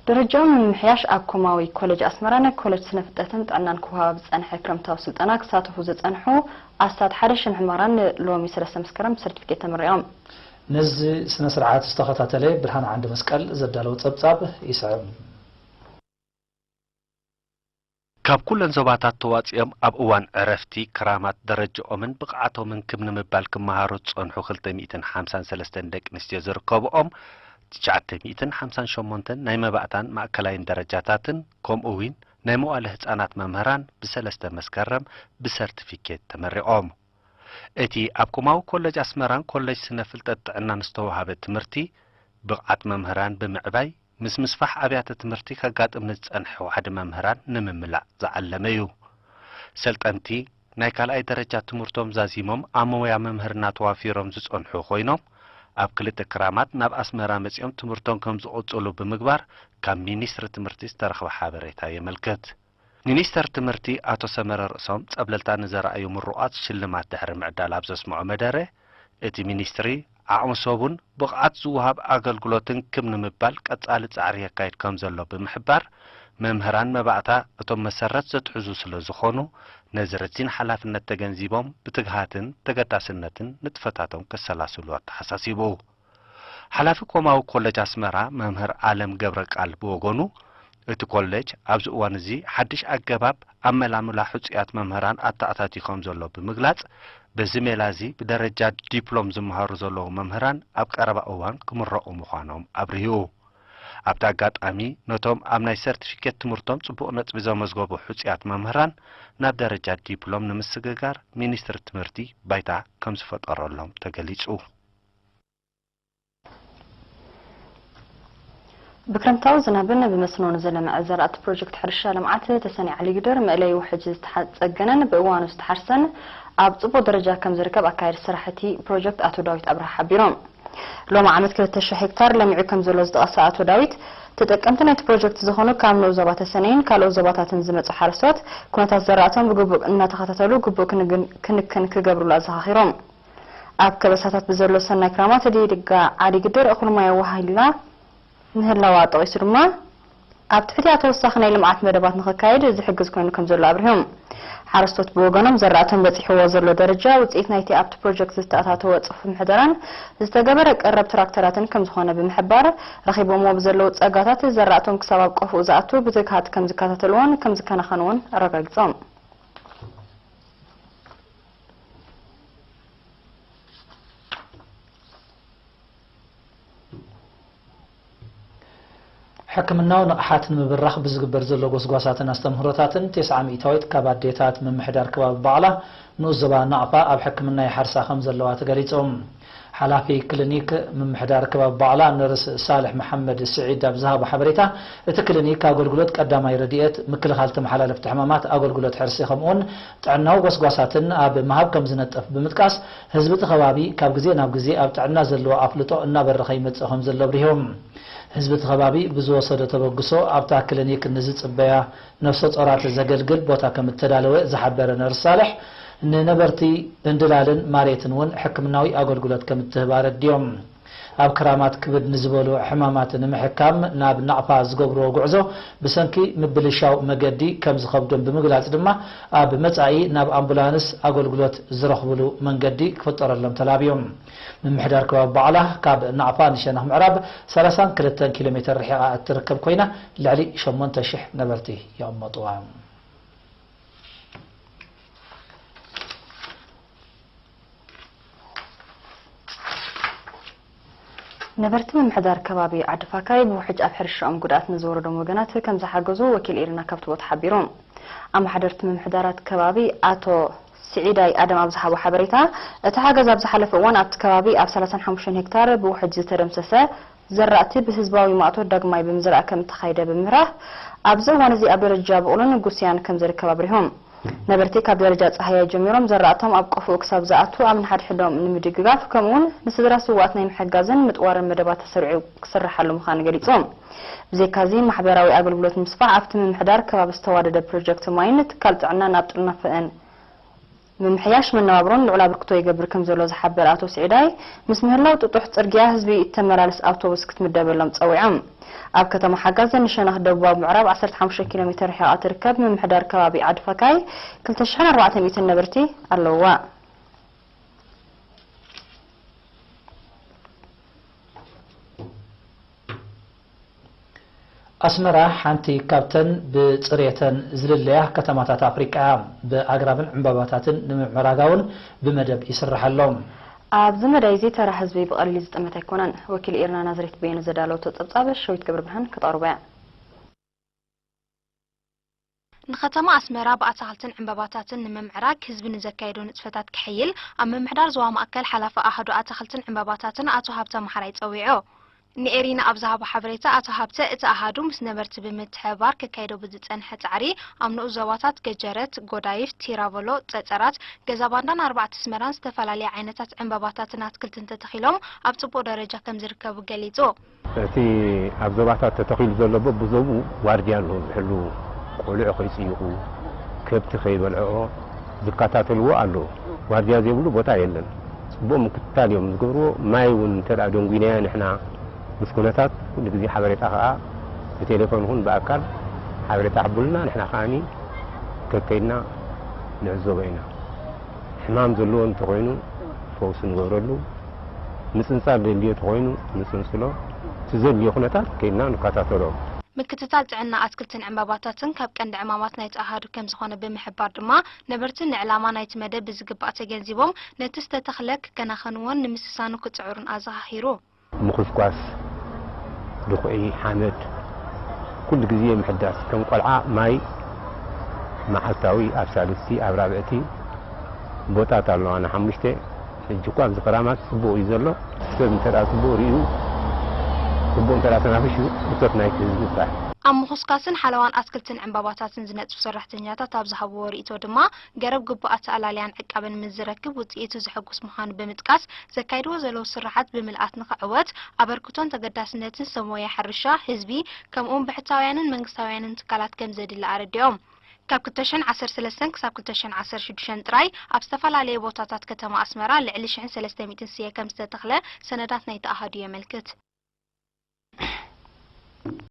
ደረጃኡ ንምምሕያሽ ኣብ ኮማዊ ኮለጅ ኣስመራ ናይ ኮለጅ ስነ ፍልጠትን ጥዕናን ክወሃባ ብዝጸንሐ ክረምታዊ ስልጠና ክሳተፉ ዝጸንሑ ኣስታት ሓደ ሽሕ መምህራን ን ሎሚ ሰለስተ መስከረም ብሰርቲፊኬት ተመሪቖም። ነዚ ስነ ስርዓት ዝተኸታተለ ብርሃነ ዓንደመስቀል ዘዳለዎ ጸብጻብ ይስዕብ። ካብ ኩለን ዞባታት ተዋጺኦም ኣብ እዋን ዕረፍቲ ክራማት ደረጃኦምን ብቕዓቶምን ክብ ንምባል ክመሃሩ ዝጸንሑ ክልተ ሚእትን ሓምሳን ሰለስተን ደቂ ኣንስትዮ ዝርከብኦም ትሽዓተ ሚእትን ሓምሳን ሸሞንተን ናይ መባእታን ማእከላይን ደረጃታትን ከምኡ'ዊን ናይ መዋእለ ህጻናት መምህራን ብሰለስተ መስከረም ብሰርቲፊኬት ተመሪቖም። እቲ ኣብ ኮማዊ ኮለጅ ኣስመራን ኮለጅ ስነ ፍልጠት ጥዕናን ዝተዋህበ ትምህርቲ ብቕዓት መምህራን ብምዕባይ፣ ምስ ምስፋሕ ኣብያተ ትምህርቲ ከጋጥም ንዝጸንሐ ዋሕዲ መምህራን ንምምላእ ዝዓለመ እዩ። ሰልጠንቲ ናይ ካልኣይ ደረጃ ትምህርቶም ዛዚሞም ኣብ ሞያ ምምህርና ተዋፊሮም ዝጸንሑ ኮይኖም ኣብ ክልተ ክራማት ናብ ኣስመራ መጺኦም ትምህርቶም ከምዝቕጽሉ ብምግባር ካብ ሚኒስትሪ ትምህርቲ ዝተረኽበ ሓበሬታ የመልክት። ሚኒስተር ትምህርቲ ኣቶ ሰመረ ርእሶም ጸብለልታ ንዘርኣዩ ምሩቓት ሽልማት ድሕሪ ምዕዳል ኣብ ዘስምዖ መደረ፣ እቲ ሚኒስትሪ ዓቕሚ ሰቡን ብቕዓት ዝወሃብ ኣገልግሎትን ክብ ንምባል ቀጻሊ ጻዕሪ የካይድ ከምዘሎ ብምሕባር፣ መምህራን መባእታ እቶም መሰረት ዘትሕዙ ስለዝኾኑ ነዚ ረዚን ሓላፍነት ተገንዚቦም ብትግሃትን ተገዳስነትን ንጥፈታቶም ከሰላስሉ ኣተሓሳሲቡ። ሓላፊ ኮማዊ ኮለጅ ኣስመራ መምህር ኣለም ገብረቃል ብወገኑ፣ እቲ ኮለጅ ኣብዚ እዋን እዚ ሓድሽ ኣገባብ ኣመላምላ ሕጹያት መምህራን ኣተኣታትዩ ከም ዘሎ ብምግላጽ፣ በዚ ሜላ እዚ ብደረጃ ዲፕሎም ዝመሃሩ ዘለዉ መምህራን ኣብ ቀረባ እዋን ክምረቑ ምዃኖም ኣብሪሁ። ኣብቲ ኣጋጣሚ ነቶም ኣብ ናይ ሰርቲፊኬት ትምህርቶም ጽቡቕ ነጥቢ ዘመዝገቡ ሕጹያት መምህራን ናብ ደረጃ ዲፕሎም ንምስግጋር ሚኒስትሪ ትምህርቲ ባይታ ከም ዝፈጠረሎም ተገሊጹ። ብክረምታዊ ዝናብን ብመስኖን ዝለምዐ ዘራእቲ ፕሮጀክት ሕርሻ ልምዓት ተሰነይ ዓሊጊደር መእለዪ ውሕጅ ዝተፀገነን ብእዋኑ ዝተሓርሰን ኣብ ፅቡቕ ደረጃ ከምዝርከብ ኣካያዲ ስራሕ እቲ ፕሮጀክት ኣቶ ዳዊት ኣብርሃ ሓቢሮም። ሎሚ ዓመት ክልተ ሽሕ ሄክታር ለሚዑ ከምዘሎ ዝጠቐሰ ኣቶ ዳዊት፣ ተጠቀምቲ ናይቲ ፕሮጀክት ዝኾኑ ካብ ንኡስ ዞባ ተሰነይን ካልኦት ዞባታትን ዝመፅኡ ሓረስቶት ኩነታት ዘራእቶም ብግቡእ እናተኸታተሉ ግቡእ ክንክን ክገብርሉ ኣዘኻኺሮም። ኣብ ከበሳታት ብዘሎ ሰናይ ክራማት እዲድጋ ዓዲ ግድር እኹል ማይ ኣወሃሂድላ ምህላዋ ጠቒሱ ድማ ኣብ ትሕቲኣ ተወሳኺ ናይ ልምዓት መደባት ንኽካየድ ዝሕግዝ ኮይኑ ከምዘሎ ኣብሪሁ። ሓረስቶት ብወገኖም ዘራእቶም በፂሕዎ ዘሎ ደረጃ ውፅኢት ናይቲ ኣብቲ ፕሮጀክት ዝተኣታተወ ፅፉፍ ምሕደራን ዝተገበረ ቀረብ ትራክተራትን ከምዝኾነ ብምሕባር ረኺቦምዎ ብዘለው ፀጋታት ዘራእቶም ክሳብ ኣብ ቆፎኡ ዝኣቱ ብትግሃት ከምዝከታተልዎን ከምዝከናኸንዎን ኣረጋጊፆም። ሕክምናዊ ንቕሓት ንምብራኽ ብዝግበር ዘሎ ጎስጓሳትን ኣስተምህሮታትን ቴስዓ ሚእታዊት ካብ ኣዴታት ምምሕዳር ከባቢ ባዕላ ንኡስ ዞባ ናቕፋ ኣብ ሕክምና ይሓርሳ ከምዘለዋ ተገሊፁ። ሓላፊ ክሊኒክ ምምሕዳር ከባቢ ባቕላ ነርስ ሳልሕ መሓመድ ስዒድ ኣብ ዝሃቦ ሓበሬታ፣ እቲ ክሊኒክ ኣገልግሎት ቀዳማይ ረድኤት፣ ምክልኻል ተመሓላለፍቲ ሕማማት፣ ኣገልግሎት ሕርሲ ከምኡ'ውን ጥዕናዊ ጎስጓሳትን ኣብ ምሃብ ከምዝነጥፍ ብምጥቃስ፣ ህዝቢ'ቲ ከባቢ ካብ ግዜ ናብ ግዜ ኣብ ጥዕና ዘለዎ ኣፍልጦ እናበረኸ ይመጽእ ከምዘሎ ኣብሪሆም። ህዝቢ'ቲ ከባቢ ብዝወሰዶ ተበግሶ ኣብታ ክሊኒክ ንዝጽበያ ነፍሰጾራት ዘገልግል ቦታ ከም እተዳለወ ዝሓበረ ነርስ ሳልሕ፣ ንነበርቲ በንድላልን ማርየትን እውን ሕክምናዊ ኣገልግሎት ከም እትህብ ኣረዲኦም። ኣብ ክራማት ክብድ ንዝበሉ ሕማማት ንምሕካም ናብ ናቕፋ ዝገብርዎ ጉዕዞ ብሰንኪ ምብልሻው መገዲ ከም ዝኸብዶም ብምግላጽ ድማ ኣብ መጻኢ ናብ ኣምቡላንስ ኣገልግሎት ዝረኽብሉ መንገዲ ክፍጠረሎም ተላብዮም። ምምሕዳር ከባቢ ባዕላ ካብ ናቕፋ ንሸነኽ ምዕራብ ሰላሳን ክልተን ኪሎ ሜተር ርሒቓ እትርከብ ኮይና ልዕሊ ሸሞንተ ሽሕ ነበርቲ ይቕመጡዋ። ነበርቲ ምምሕዳር ከባቢ ዓዲፋካይ ብውሕጅ ኣብ ሕርሻኦም ጉድኣት ንዝወረዶም ወገናት ከምዝሓገዙ ወኪል ኢሪና ካብቲ ቦታ ሓቢሩ። ኣማሓደርቲ ምምሕዳራት ከባቢ ኣቶ ስዒዳይ ኣደም ኣብ ዝሃቦ ሓበሬታ፣ እቲ ሓገዝ ኣብ ዝሓለፈ እዋን ኣብቲ ከባቢ ኣብ ሰላሳን ሓሙሽተን ሄክታር ብውሕጅ ዝተደምሰሰ ዘራእቲ ብህዝባዊ ማእቶት ዳግማይ ብምዝራእ ከምእተኻየደ ብምብራህ፣ ኣብዚ እዋን እዚ ኣብ ደረጃ ብቑልን ጉስያን ከምዝርከብ ኣብሪሁ። ነበርቲ ካብ ደረጃ ጻህያይ ጀሚሮም ዘራእቶም ኣብ ቆፎኡ ክሳብ ዝኣቱ ኣብ ንሓድሕዶም ንምድግጋፍ ከምኡ'ውን ንስድራ ስውኣት ናይ ምሕጋዝን ምጥዋርን መደባት ተሰሪዑ ክስርሓሉ ምዃኑ ገሊጹ። ብዘይካ'ዚ ማሕበራዊ ኣገልግሎት ንምስፋሕ ኣብቲ ምምሕዳር ከባቢ ዝተዋደደ ፕሮጀክት ማይን ትካል ጥዕናን ኣብ ጥርናፈኣን ምምሕያሽ መነባብሮን ልዑል ኣበርክቶ ይገብር ከምዘሎ ዝሓበረ ኣቶ ስዒዳይ ምስ ምህላው ጥጡሕ ጽርግያ ህዝቢ እተመላልስ ኣውቶቡስ ክትምደበሎም ጸዊዖም። ኣብ ከተማ ሓጋዘን ንሸነኽ ደቡባዊ ምዕራብ ዓሰርተ ሓሙሽተ ኪሎ ሜተር ርሒቓ እትርከብ ምምሕዳር ከባቢ ዓዲ ፈካይ ክልተ ሽሕን ኣርባዕተ ሚእትን ነበርቲ ኣለውዋ። ኣስመራ ሓንቲ ካብተን ብጽሬተን ዝልለያ ከተማታት ኣፍሪቃ እያ። ብኣግራብን ዕምባባታትን ንምምዕራጋውን ብመደብ ይስራሕ ኣሎ። ኣብዚ መዳይዚ ተራ ህዝቢ ብቐሊል ዝጥመት ኣይኮነን። ወኪል ኢርና ናዝሬት በየነ ዘዳለወቶ ጸብጻብ ሸዊት ገብረብርሃን ከተቕርቦ'ያ። ንከተማ ኣስመራ ብኣታኽልትን ዕንበባታትን ንምምዕራግ ህዝቢ ንዘካየዶ ንጥፈታት ከሐይል ኣብ ምምሕዳር ዞባ ማእከል ሓላፊ ኣሃዱ ኣታኽልትን ዕንበባታትን ኣቶ ሃብተ መሓራይ ጸዊዑ። ንኤሪና ኣብ ዝሃቦ ሓበሬታ ኣቶ ሃብተ፣ እቲ ኣሃዱ ምስ ነበርቲ ብምትሕብባር ከካይዶ ብዝጸንሐ ጻዕሪ ኣብ ንኡስ ዞባታት ገጀረት፣ ጎዳይፍ፣ ቲራቮሎ፣ ጸጸራት፣ ገዛባንዳን ኣርባዕተ ኣስመራን ዝተፈላለየ ዓይነታት ዕንበባታትን ኣትክልትን ተተኺሎም ኣብ ጽቡቕ ደረጃ ከምዝርከቡ ገሊጹ። እቲ ኣብ ዞባታት ተተኺሉ ዘሎ በብዞብኡ ዋርድያ ኣለዎ ዝሕልዉ፣ ቆልዑ ከይጽይቑ፣ ከብቲ ከይበልዕኦ ዝከታተልዎ ኣለዉ። ዋርድያ ዘይብሉ ቦታ የለን። ጽቡቕ ምክትታል እዮም ዝገብርዎ። ማይ እውን እንተ ደንጒናዮ ንሕና ምስ ኩነታት ኩሉ ግዜ ሓበሬታ ከኣ ብቴሌፎን ይኹን ብኣካል ሓበሬታ ይሕቡሉና፣ ንሕና ከኣ ከከይድና ንዕዘቦ ኢና። ሕማም ዘለዎ እንተኾይኑ ፈውሲ ንገብረሉ፣ ምጽንጻል ዘድልዮ ተኾይኑ ንጽንጽሎ፣ እቲ ዘድልዮ ኩነታት ከይድና ንከታተሎ። ምክትታል ጥዕና ኣትክልትን ዕምባባታትን ካብ ቀንዲ ዕማማት ናይቲ ኣሃዱ ከምዝኾነ ብምሕባር ድማ ነበርቲ ንዕላማ ናይቲ መደብ ብዝግባእ ተገንዚቦም ነቲ ዝተተኽለ ክከናኸንዎን ንምስሳኑ ክጽዕሩን ኣዘኻኺሩ። ምኹስኳስ ድኹዒ ሓመድ ኩሉ ግዜ ምሕዳስ ከም ቆልዓ ማይ መዓልታዊ ኣብ ሳልስቲ ኣብ ራብዕቲ ቦጣት ኣለዋና ሓሙሽተ ሕጂ እኳ ኣብዚ ክራማት ጽቡቕ እዩ ዘሎ ሰብ እንተ ጽቡቕ ርእዩ ጽቡቕ እንተ ተናፍሹ እቶት ናይቲ ህዝቢ ጥራሕ ኣብ ምኹስካስን ሓለዋን ኣትክልትን ዕምባባታትን ዝነጥፉ ሰራሕተኛታት ኣብ ዝሃብዎ ርኢቶ ድማ ገረብ ግቡእ ኣተኣላልያን ዕቃበን ምስ ዝረክብ ውፅኢቱ ዘሕጉስ ምዃኑ ብምጥቃስ፣ ዘካይድዎ ዘለዉ ስርሓት ብምልኣት ንኽዕወት ኣበርክቶን ተገዳስነትን ሰብ ሞያ ሕርሻ፣ ህዝቢ ከምኡ እውን ብሕታውያንን መንግስታውያንን ትካላት ከምዘድሊ ኣረዲኦም። ካብ ክልተ ሽሕን ዓሰርተ ሰለስተን ክሳብ ክልተ ሽሕን ዓሰርተ ሽዱሽተን ጥራይ ኣብ ዝተፈላለየ ቦታታት ከተማ ኣስመራ ልዕሊ ሽሕን ሰለስተ ሚእትን ስየ ከምዝተተኽለ ሰነዳት ናይቲ ኣሃዱ የመልክት።